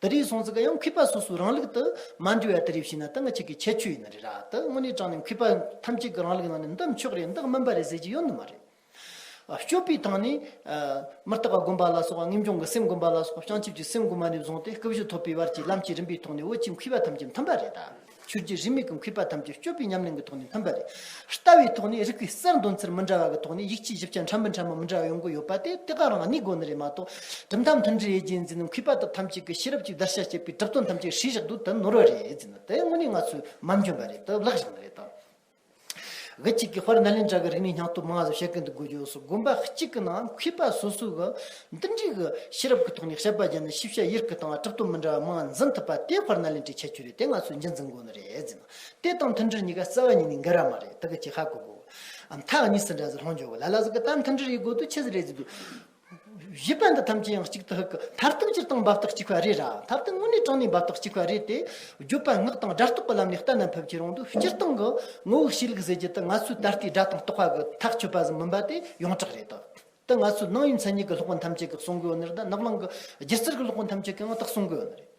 ད་རེས་སོང་ཚིག་ག་ཡང་གུས་པ་སོ་སོའི་རང་ལུགས་དུ་མ་འབྲི་བ་དེ་རེ་བྱས་ན་ད་ང་ཅིག་གི་ཁྱད་ཆོས་ཡིན་ན་རེད་ར་ད་དངོས་གནས་དྲང་ནས་གུས་པ་ཐམས་ཅད་ཀྱི་རང་ལུགས་ནང་ནས་འདི་མཆོག་རེད་འདི་སྨིན་པ་རེད་ཟེར་གྱི་ཡོད་ནི་མ་རེད། སྤྱོད་པའི་ཐང་ནས། མི་རྟག་པ་སྒོམ་པ་ལ་སོགས་པ་ངེས་འབྱུང་གི་སེམས་སྒོམ་པ་ལ་སོགས་པ་བྱང་ཆུབ་ཀྱི་སེམས་སྒོམ་པ་ནས་བཟུང་སྟེ་སྐུ་བཞི་ཐོབ་པའི་བར་གྱི་ལམ་གྱི་རིམ་པའི་ཐོག་ནས་བོད་ཀྱི་གུས་པ་ཐམས་ཅད་མཐུན་པ་རེད་ད། ཆོས་རྗེ་རིས་མེད་ཀྱི་མཁས་པ་ཐམས་ཅད་སྤྱོད་པའི་ཉམས་ལེན་གྱི་ཐོག་ནས་མཐུན་པ་རེད། ལྟ་བའི་ཐོག་ནས་རིགས་པའི་གསར་འདོན་ཚུལ་མི་འདྲ་བ་གྱི་ཐོག་ནས་ཡིག་ཆའི་ཞིབ་ཆ་འཕྲ་མི་འཕྲ་མ་མི་འདྲ་བ་ཡོང་གི་ཡོད་པ་དེ་དེ་ག་རང་གནས་སྒོ་ནས་རེད་མ་གཏོགས། གྲུབ་མཐའ་མཐུན་འབྲེལ་རྒྱལ་མཚན་མཁས་པ་དག་ཐམས་ཅད་ཀྱིས་ཤེས་རབ་ཅིག་བརྡར་ཤ་བཅད་པའི་གྲུབ་དོན་ཐམས་ཅད་ཧྲིལ་བཞག་ཏུ་དེ་ནོར་བ་རེད། དེ་དངོས་གནས་ང་ཚོའི་མ་འཇོན་པ་རེད་དམ་ལག་བཞག་མ་རེད་དམ། གཅིག་གིས་དཔར་ན་ལེན་གྲྭ་གི་རིག་གནས་སྙིང་སྟོབས་མངའ་གསོལ་བྱེད་ཀྱིན་འདུག་དགུ་ཕྱོགས་སུ་དགོན་པ་གཅིག་གི་ནང་མཁས་པ་སོ་སོས་འདི་འདྲའི་ཤེས་རབ་ཀྱི་ཐོག་ནས་དཔྱད་པ་བརྒྱབ་ན་ཤེས་བྱ་ཡིར་ཀི་དང་གྲུབ་ཐོབ་མི་འདྲ་བ་མང་འཛིན་ཐུབ་པ་དེ་དཔར་ན་ལེན་གྲྭའི་ཁྱད་ཆོས་རེད་དེ་ང་ཚོས་གཞི་འཛིན་དགོས་ནི་རེད་ཟེར་ན་དེ་དང་མཐུན་སྒྲིལ་གཉིས་ཀ་རྩ་བ་ཉིད་ནས་འགལ་ར་མ་རེད་དེ་གི་ཅི་ཧ་གོ་དགོ། མཐའ་གཉིས་སུ་འདྲ་ཟེར་ལྷོང་འཇོག་གོ་ལ་ལ་ཟེར་གི་ད་མཐུན་སྒྲིལ་ཡི་གོ་དུ་ཆེ་ཟེར་རེད་ཟེར་དུས། བཞི་པ་འདི་ཐམས་ཅད་ཡང་གཅིག་ཏུ་ཧུ་ཀི་མཐར་ཐུག་སྤྱིར་བཏང་འབབ་སྟེགས་གཅིག་པ་རེད་ར་མཐར་ཐུག་དངོས་གནས་དྲང་གནས་འབབ་སྟེགས་གཅིག་པ་རེད་དེ། བརྗོད་པ་སྔགས་དང་སྒྲ་རྟོག་གི་ལམ་ནས་ལྟ་ན་ཕེབས་ཀྱི་རང་དུ་སྤྱིར་བཏང་གི་ངོ་བོ་ཤེས་ལུགས་ཟེར་རྒྱུ་དེ་ང་ཚོའི་ད་ལྟའི་སྒྲ་དང་རྟོག་པ་གི་ཐག་ཆོད་པ་ཟིན་མིན་པ་དེ་ཡོངས་གྲགས་རེད་དེ། ང་ཚོའི་སྣང་ཡུལ་མཚན་ཉིད་ཀྱི་སློབ་དཔོན་ཐམས་ཅད་ཀྱིས་གསུང་གི་ཡོད་ནི་རེད་ད་ནག་ལང་གི་སྒྱུ་རྩལ་གྱི་སློབ་དཔོན་ཐམས་ཅད་ཀྱིས་ཡང་དག་གསུང་གི་ཡོད་ནི་རེད།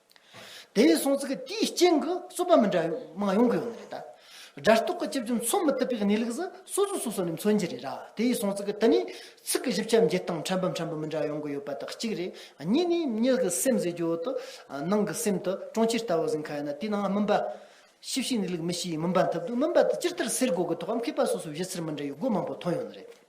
དེ་བས་སོང་ཚིག་དེའི་སྤྱན་གྱི་རྩོད་པ་མི་འདྲ་བའི་མང་ཡོང་གི་ཡོད་ནི་རེད་ད། སྒྲ་རྟོག་གི་སྤྱི་བཅུ་མཚོན་མི་ཐུབ་པའི་གནས་ལུགས་སུ་སོ་སོས་སོ་སོ་ནས་མཚོན་གྱི་རེད་ར་དེ་བས་སོང་ཚིག་དེ་ནི་ཚིག་གི་ཞིབ་ཆ་འབྱེད་སྟངས་ཕྲན་བུ་ཕྲན་བུ་མི་འདྲ་ཡོང་གི་ཡོད་པ་དག་གཅིག་རེད་གཉིས་ནི་མྱི་གི་སེམས་ཟེར་རྒྱུ་འོག་ཏུ་ནང་གི་སེམས་དུ་གྲོང་ཁྱེར་ལྟ་བུ་ཟིན་ཁ་ཡོད་ན་དེའི་ནང་སྨིན་པ། ཤེས་བྱའི་གནས་ལུགས་མི་ཤེས་ཡིན་སྨིན་པ་འཐབ་འདུག་སྨིན་པ་དེ་ཅི་ལྟར་སེལ་དགོས་གི་ཐོག་གམ་མཁས་པ་སོ་སོའི་བཞེད་ཚུལ་མི་འདྲ་བའི་སྒོ་མང་པོ་མཐོང་ཡོད་ནི་རེད།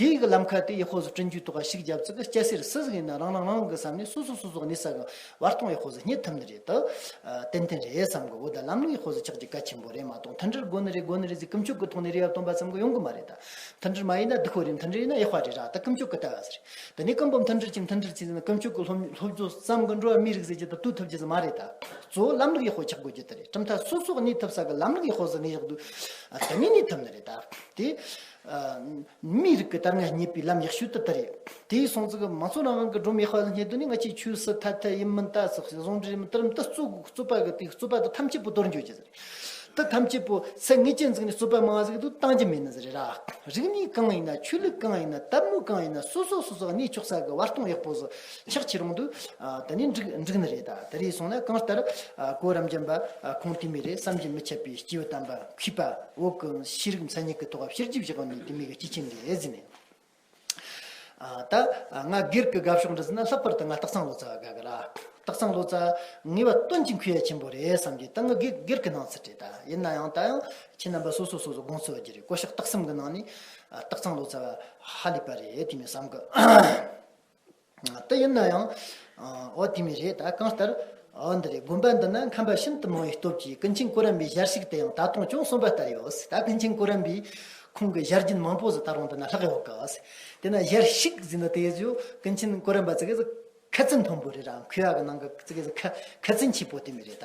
དེ་ཡི་གི་ལམ་ཁ་དེ་ཡི་ཧོ་ཟི་བཀྲིན་རྒྱུའི་ཐོག་ཁ་ཞིག་རྒྱབ་ཙི་གི་སྐྱ་སེར་སུ་ཟིག་ཡིན་ན་རང་རང་རང་གི་བསམ་ནས་སུ་སུ་སུ་སུ་གནས་ས་གི་བར་སྟོང་ཡི་ཧོ་ཟི་རྙེད་ཐུབ་ནི་རེད་དོ། ཏན་ཏན་རེད་བསམ་གི་འོ་ད་ལམ་ལུགས་ཡི་ཧོ་ཟི་ཆགས་རྒྱུ་གལ་ཆེན་པོ་རེད་མ་གཏོགས་མཐུན་སྒྲིལ་དགོས་ནི་རེད་དགོས་ནི་རེད་ཟིག་ཀུན་སྤྱོད་གི་ཐོག་ནས་རེ་བ་སྟོན་པ་ཙམ་གི་ཡོང་གི་མ་རེད་ད། མཐུན་སྒྲིལ་མ་ཡིན་ན་སྡུག་ཧོ་རེད་མཐུན་སྒྲིལ་ཡིན་ན་ཡག་ཧོ་རེད་ར་ད་ཀུན་སྤྱོད་གི་ལྟ་བ་ཟེར། དེ་ནས་ཀུན་པོ་མཐུན་སྒྲིལ་གྱི་མཐུན་སྒྲིལ་ཚིག་ཟིན་ན་ཀུན་སྤྱོད་གི་སློབ་སློབ་སྦྱོང་བསམ་གི་འགྲོ་བ་མིའི་རིགས་ཟེར་རྒྱུ་ད་ལྟོས་ཐུབ་རྒྱུ་ཟིག་མ་རེད་ད། གཙོ་བོ་ལམ་ལུགས་ཡི་ཧོ་ཆགས་དགོས་རྒྱུ་དེ་རེད་གྲུབ་མཐའ་སུ་སུ་གི་གནས་ཐུབ་ས་གི་ལམ་ལུགས་ཡི་ཧོ་ཟི་གནས་ཡག་འདུག་ད་ནས་གནས་ཐུབ་ནི་རེད་ད། དེ། མིའི་རིགས་ཀྱི་དར་སྔས་རྙེད་པའི་ལམ་ཡག་ཤོས་དེ་ལྟར་རེད། དེའི་གསུང་ཚིག་མ་ཚོ་རང་རང་གི་སྒྲོམ་ཡག་པ་ལ་སྙེག་དོན་ནི་ང་ཅིག་ཆོས་སུ་ཐ་དད་ཡིན་མིན་ལྟ་ཟེར་ཞིང་ཟུང་འབྲེལ་མི་བསྟར་མི་ལྟ་རྩོད་དགོས་རྩོད་པ་གི་དེ་རྩོད་པ་དེ་ཐམས་ཅད་པོ་དོར་འཇོག་བྱེད་ཟེར་རེད། དེ་ཐམས་ཅད་པོ་ཚད་ངེས་ཅན་བཙུགས་ནས་རྩོད་པ་མང་བ་ཟེར་གི་འདུག་བཏང་རྒྱུ་མེད་ན་ཟེར་རེད་ར། རིག་གནས་གང་ཡིན་ན་ཆོས་ལུགས་གང་ཡིན་ན་དད་མོས་གང་ཡིན་ན་སོ་སོ་སོ་སོ་གནས་ཕྱོགས་ས་གི་བར་སྟོང་ཡག་པོ་བཟོ་ཆག་ཆེ་རུང་དུ་ད་ནི་འགྲིག་ནི་རེད་ད་རེས་སོང་ན་གང་ལྟར་གོ་རམ་རྒྱམ་པ་ཁོང་དེ་མི་རེད་བསམ་གྱི་མི་ཆད་པའི་སྐྱེ་བོ་གཏམ་པ་མཁས་པ་འོག་གི་ཤེས་རིག་མཚན་ཉིད་ཀྱི་ཐོག་ཕྱིར་རྒྱུག་བྱེད་པ་ནི་དེ་མི་གི་སྐྱེས་ཆེན་ལས་བཟི་མེད། ད་ང་སྒེར་གི་དགའ་ཕྱོགས་འདི་ཟིན་ན་ལྷག་པར་དུ་ང་སྟག་ཚང་ལོ་ཙཱ་བ་དགའ་གི་རེད། སྟག་ཚང་ལོ་ཙཱ་ངེས་པ་སྟོན་གྱི་མཁས་ཆེན་པོ་རེད་བསམ་གྱི་ད་ང་སྒེར་གི་སྣང་ཚུལ་རེད་ད་ཡིན་ན་ཡང་ད་ཡང་ཁྱེད་རྣམ་པ་སོ་སོ་སོ་སོ་དགོངས་ཚོད་བགྱི་རེད་ཀོ་ཤག་སྟག་གསུམ་གི་ནང་ནས་སྟག་ཚང་ལོ་ཙཱ་བ་ཧ་ལས་པ་རེད་དེ་མི་བསམ་གི། དེ་ཡིན་ན་ཡང། འོ་དེ་མི་རེད་ད་གང་ལྟར། འོ་འདི་རེད་དགོན་པ་འདི་ན་ཁམས་པ་ཤིན་ཏུ་མང་བའི་སྟོབས་ཀྱིས་ཀུན་མཁྱེན་སྐུ་རམ་པའི་ཞལ་ཞིག་དེ་ཡང་ད་དུང་ཅུང་སོན་པ་ལྟར་ཡོད་ཟེར་ད་ཀུན་མཁྱེན་སྐུ་རམ་པས་ཁོང་གི་ཞལ་རྒྱུན་མང་པོ་ཟིག་ད་རུང་འདི་ན་ལྷག་ཡོད་གི། དེ་ན་ཞལ་ཞིག་ཟེར་ན་དེ་ཚོས་ཀུན་མཁྱེན་སྐུ་རམ་པ་ཙི་གེ་ཟིག་ཁ་རྩིན་མཐོན་པོ་རེད་ར་མཁོ་བ་གི་ནང་གི་ཙི་གེ་ཟིག་ཁ་ཁ་རྩིན་ཆེ་པོ་དེ་མི་རེད་ད་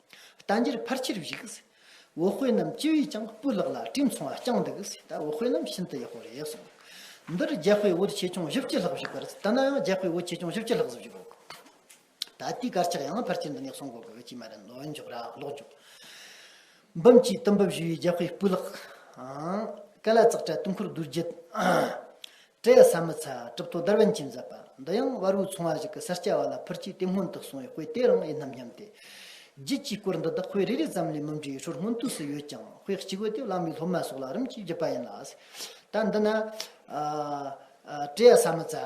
རྟ་འགྱེལ་ཕར་ཆེར་བཞུགས། འོ་དཔོན་རྣམས་སྤྱི་བོས་ཀྱང་སྤུ་ལག་ལ་དྲིལ་མཚུངས་བརྐྱངས་འདུག་ད་འོ་དཔོན་རྣམས་ཤིན་ཏུ་ཡག་པོ་རེད་གསུངས། འདིར་རྒྱལ་དཔེ་བོད་ཆེ་ཆུང་བཞི་བཅུ་ལྷག་བཞུགས་པར་ད་ནའང་རྒྱལ་དཔེ་བོད་ཆེ་ཆུང་བཞི་བཅུ་ལྷག་བཞུགས་འོ། ད་ལྟའི་དཀར་ཆག་ཡང་ཕར་ཆེར་འདི་ནས་གསུངས་དགོས་ཀྱི་ཅི་མ་རེད་ལོ་མཇུག་ར་ལོག་འཇུག། འབུམ་གྱིས་གཏུམ་འབུབ་བཞུགས་ཡོད་རྒྱལ་དཔེ་སྤུ་ལག། ཀ་ལ་ཙག་སྤྲ་དུང་འཁོར་བདུད་རྒྱུད། བཀྲས་ས་མི་ཚ་གྲུབ་ཐོག་དར་བན་གྱིས་མཛད་པ་འདི་ཡང་དབལ་བོའི་ཚོང་བ་ཞིག་གི་སར་སྐྱ་བ་ལ་ཕུར་སྐྱིད་དེ་སྔོན་དུ་གསུངས་བའི་དཔེ་དེ་རང་ཡིན་ནམ་སྙམ་སྟེ། རྒྱུད་ཀྱི་སྐོར་འདི་དག་དཔེ་རེ་རེ་ཙམ་ལས་མི་འབྲི་ཧྲོར་སྔོན་དུས་སུ་ཡོད་ཀྱང་དཔེ་གཅིག་བུ་དེ་བླ་མའི་སློབ་མ་སོགས་ལ་རིམ་གྱིས་བརྒྱུད་པ་ཡིན་ལ། ད་འདི་ན། བཀྲས་ས་མི་ཚ།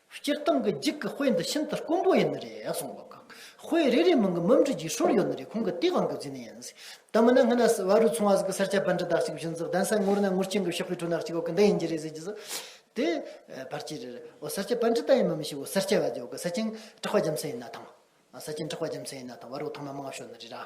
སྤྱིར་བཏང་གི་འགྱིག་གི་དཔེ་འདི་ཤིན་ཏུ་དཀོན་པོ་ཡིན་ནི་རེད་གསུངས་པ་དགག་དཔེ་རེ་རེའི་མིང་གི་མུམ་འབྲི་རྒྱུའི་ཧྲུལ་ཡོད་ནི་རེད་ཁོང་གི་དེའི་དབང་གིས་བརྫིས་ནི་ཡིན་དེ་མིན་ན་སྔ་ན་བ་རུའི་ཚོང་བ་ཟིག་གི་སེར་སྐྱ་བན་དྲི་དག་ཅིག་བཞིན་ཟིག་གདན་ས་ངོར་ན་ངུར་ཆེན་གི་ཤོག་བུའི་ཁྲོད་ནག་ཅིག་འོག་གི་འདི་ཡིན་གྱི་རེད་ཟེར་གྱི་ཟིག་དེ་བར་ཅི་རེད་འོ་སེར་སྐྱ་བན་དྲི་དག་ཡིན་མི་མི་ཤེས་འོ་སེར་སྐྱ་བ་དེ་འོག་གི་ས་སྤྱིན་བྲག་པ་རྒྱམ་ཚལ་ཡིན་ན་ཐང་ས་སྤྱིན་བྲག་པ་རྒྱམ་ཚལ་ཡིན་ན་ཐང་བ་རུའི་ཐང་མ་མང་བ་ཤོར་ནི་རེད་ར།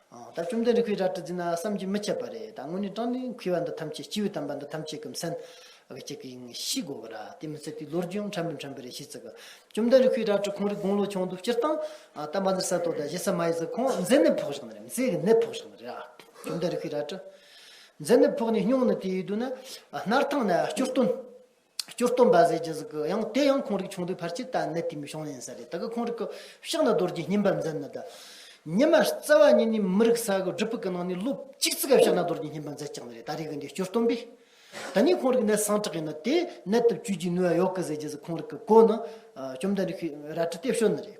ད་བཅོམ་ལྡན་རིགས་ཀྱི་རལ་གྲི་འཛིན་ན་བསམ་གྱིས་མི་ཁྱབ་པ་རེད་ད་དངོས་གནས་སྤྲང་ལས་འཁུལ་བ་འདི་ཐམས་ཅད་སྤྱི་བོའི་དམ་པ་འདི་ཐམས་ཅད་ཀྱི་མཚན་གྱི་གཅིག་ཡིན་ཤི་གོ་གི་ར་དེ་མི་ཚད་དུས་ལོ་རྒྱུས་ཡང་ཕྲན་བུ་ཕྲན་བུ་རེ་ཤི་ཚིག་གི་བཅོམ་ལྡན་རིགས་ཀྱི་རལ་གྲི་ཁོང་རིགས་དགུང་ལོ་ཆུང་དུ་སྤྱིར་བཏང་དམ་པ་འདི་ས་དོ་ད་གཞི་ས་མ་ཡི་ཚིག་ཁོང་མཛེ་ནད་ཕོག་ཞིག་ནི་རེད་མཛེ་གི་ནད་ཕོག་ཞིག་ནི་རེད་ཨ། བཅོམ་ལྡན་རིགས་ཀྱི་རལ་གྲི། མཛེ་ནད་ཕོག་ནས་སྙུང་ནི་དེ་ཡི་དུས་ན། སྣར་ཐང་ནས་སྐྱུར་སྟོན། སྐྱོར་སྟོབས་འབའ་ཟེར་གྱི་ཟིག་གི་ཡང་དེ་ཡང་ཁོང་རིགས་ཆུང་དུས་ཕར་ཆེར་ལྟ་གནད་དེ་མི་ཤོང་ཡིན་ས་རེད་ད་གི་ཁོང་རིགས་ཀྱི་ཕྱག་ན་རྡོ་རྗེ་སྙིམ་པ་འཛིན་ནི་ད་ཉི་མ་རྩ་བ་ཉིད་ནས་མི་རིགས་ས་གི་སྒྲུབ་ཕུག་གི་ནང་ནས་ལོ་གཅིག་ཙི་ག་ཕྱག་ན་རྡོ་རྗེ་སྙིམ་པ་འཛིན་ཀྱང་ནི་རེད་ད་རེ་གི་འདི་སྐྱོར་སྟོན་པས་ད་ནི་ཁོང་རིགས་གནད་སངས་དྲག་གི་ནི་དེ་གནད་དུ་བཅུད་ཀྱི་ནུས་བ་ཡོག་གི་ཟེར་གྱི་ཟིག་ཁོང་རིགས་ཀྱི་གོ་ནི་བཅོམ་ལྡན་རིགས་ཤིག་རལ་གྲི་སྟེ་བཤོལ་ནི་རེད།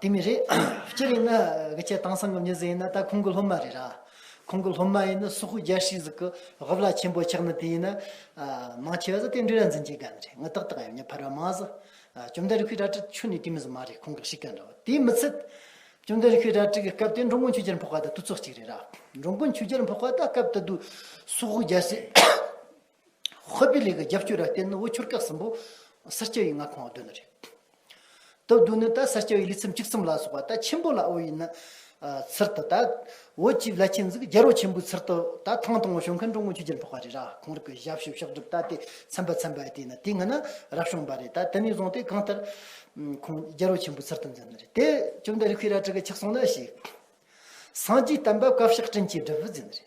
དེ་མི་རེད། སྤྱིར་ཡིན་ན་གི་ཁྱེད་དྭངས་སང་གི་མྱི་ཟེར་ཡིན་ན་ད་ཁོང་གི་སློབ་མ་རེད་ར། ཁོང་གི་སློབ་མ་ཡིན་ན་སུ་ཧུ་རྒྱལ་ཧྲིག་ཟིག་གི་ཧོ་བླ་ཆེན་པོ་ཆགས་ན་དེ་ཡིན་ན། མང་ཆེ་བ་ཟ་དེ་འདྲི་ར་འཛིན་གྱི་ག་མི་རེད་ང་ཏག་ཏག་ཡང་མྱི་ཕར་བ་མ་ཟ། བཅོམ་ལྡན་རི་ཁུའི་ར་ཏྲི་ཆུ་ནི་དེ་མི་ཟ་མ་རེད་ཁོང་གི་ཧྲིག་ག་འདྲ་བ་དེ་མི་ཚིད། བཅོམ་ལྡན་རི་ཁུའི་ར་ཏྲི་གི་སྐབས་དེ་འགྲོ་མགོན་ཆུ་རྒྱལ་འཕོག་པ་དང་དུ་ཚོགས་གཅིག་རེད་ར། འགྲོ་མགོན་ཆུ་རྒྱལ་འཕོག་པ་ད་སྐབས་ད་དུ་སུ་ཧུ་རྒྱལ་ཧྲིག། ཧོས་པི་ལི་གི་རྒྱབ་སྐྱོར་ལ་བརྟེན་ནས་དབུལ་སྐྱོར་སྐབས་གསུམ་པོ་སེར་སྐྱ་བའི་མངའ་ཁོངས་བསྡུ་ནི་རེད། དོ་བསྡུ་ནི་ད་སེར་སྐྱ་བའི་ལུས་སེམས་གཅིག་མཚུངས་ལ་སོགས་པ་ད་ཆེན་པོ་ལ་དབུལ་བའི་ནི། ཚུལ་དུ་ད་བོད་སྤྱི་བའི་བླ་ཆེན་གཟིགས་རྒྱལ་རོགས་ཆེན་པོའི་ཚུལ་དུ་ད་ཐང་དང་བོ་བྱོན་མཁན་ཀྲུང་གོའི་ཆོས་རྒྱལ་འཕགས་པ་རེད་ར་གང་རིགས་ཀྱི་ཞབས་ཞུ་ཕྱག་སྒྲུབ་ད་དེ་ཚན་པ་ཚན་པ་དེ་ནི་དེ་སྔ་ན་རབ་བྱུང་བ་རེད་ད་དེ་ནས་བཟུང་སྟེ་གང་ལྟར། ཁོང་རྒྱལ་རོགས་ཆེན་པོའི་ཚུལ་དུ་འཛིན་ནི་རེད་དེ་བཅོམ་ལྡན་རིགས་ཀྱི་རལ་གྲི་གི་ཆགས་སོང་ལ་ཞིག། སངས་རྒྱས་བསྟན་པ་བཀའ་བཤགས་བཀྲིན་ཆེ་སྒྲུབ་བར་མཛད་ནི་རེད།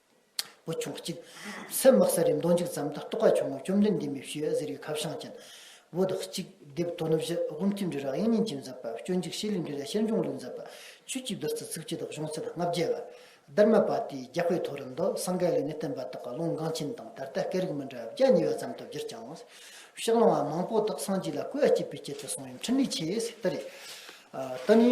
པོ་བྱུང་བ་གཅིག། སེམས་དམག་ས་རི་མདོ་འཇིགས་ཙམ་དུ་རྟོགས་པ་བྱུང་ངོ་བཅོམ་ལྡན་འདས་མི་བཞི་ཟེར་བའི་ཁ་བྱང་ཅན། བོད་དུ་གཅིག། དེབ་དོ་ནུབ་བཞི། དབུ་མཐུད་འབྲི་རག་དབྱིན་ཉིན་གྱིས་མཛད་པ། སྤྱོད་འཇུག་ཤེས་ལུས་འབྲི་ར་ཤེར་འབྱུང་ལུས་མཛད་པ། ཆོས་ཀྱི་བདུད་རྩི་ཚིག་བཅད་དག་གཞུང་ཚད་ལྔ་བརྒྱད་པ། སྡེར་མ་པ་ཏིའི་རྒྱ་དཔེ་ཐོ་རུ་འདུག་སངས་རྒྱས་ལས་ནི་བསྟན་པ་དག་གི་ལུང་འགངས་ཆེན་དང་ད་ལྟའི་སྐད་རིགས་མི་འདྲ་བ་བརྒྱ་ཉེ་བ་ཙམ་དུ་བསྒྱུར་ཀྱང། ཕྱག་ལེན་བ་མང་པོ་དག་སངས་རྒྱས་ལ་གུས་པ་སྐྱེད་པའི་ཆེད་དུ་གསུངས་ཡོད་འཕྲིན་ལས་ཆེ་ཟེར་ལྟར་རེད། ད་ནི།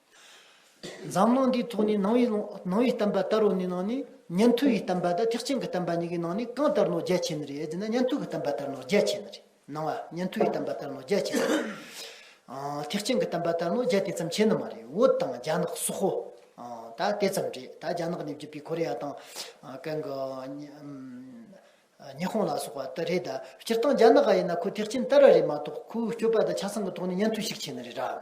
འཛམ་གླིང་འདིའི་ཐོག་ནས་ནང་བའི་གཏམ་པ་ལྟ་རུ་ནི་ནང་ནས་ཉན་ཐོས་ཡི་གཏམ་པ་དང་ཐེག་ཆེན་གྱི་གཏམ་པ་གཉིས་ཀྱི་ནང་ནས་གང་ལྟར་ནོ་རྒྱལ་ཆེ་ནི་རེད་ཟེར་ན་ཉན་ཐོས་ཀྱི་གཏམ་པ་ལྟར་ནོ་རྒྱལ་ཆེ་ནི་རེད་ནང་བ་ཉན་ཐོས་ཡི་གཏམ་པ་ལྟར་ནོ་རྒྱལ་ཆེ་ནི་རེད། ཐེག་ཆེན་གྱི་གཏམ་པ་ལྟར་ནོ་རྒྱལ་དེ་ཙམ་ཆེ་ནི་མ་རེད་བོད་དང་རྒྱ་ནག་སོག་ཧོ་ད་དེ་ཙམ་རེད་ད་རྒྱ་ནག་ནས་བརྒྱུད་པའི་ཁོ་རེ་ཡ་དང་གན་གི་ཉི་ཧོང་ལ་སོག་པ་དེ་རེད་ད་སྤྱིར་བཏང་རྒྱ་ནག་ག་ཡིན་ན་ཁོ་ཐེག་ཆེན་ལྟར་ར་རེད་མ་གཏོགས་ཁོའི་སྤྱོད་པ་དང་ཆ་ཚང་གི་ཐོག་ནས་ཉན་ཐོས་ཤིག་ཆེ་ནི་རེད་ར།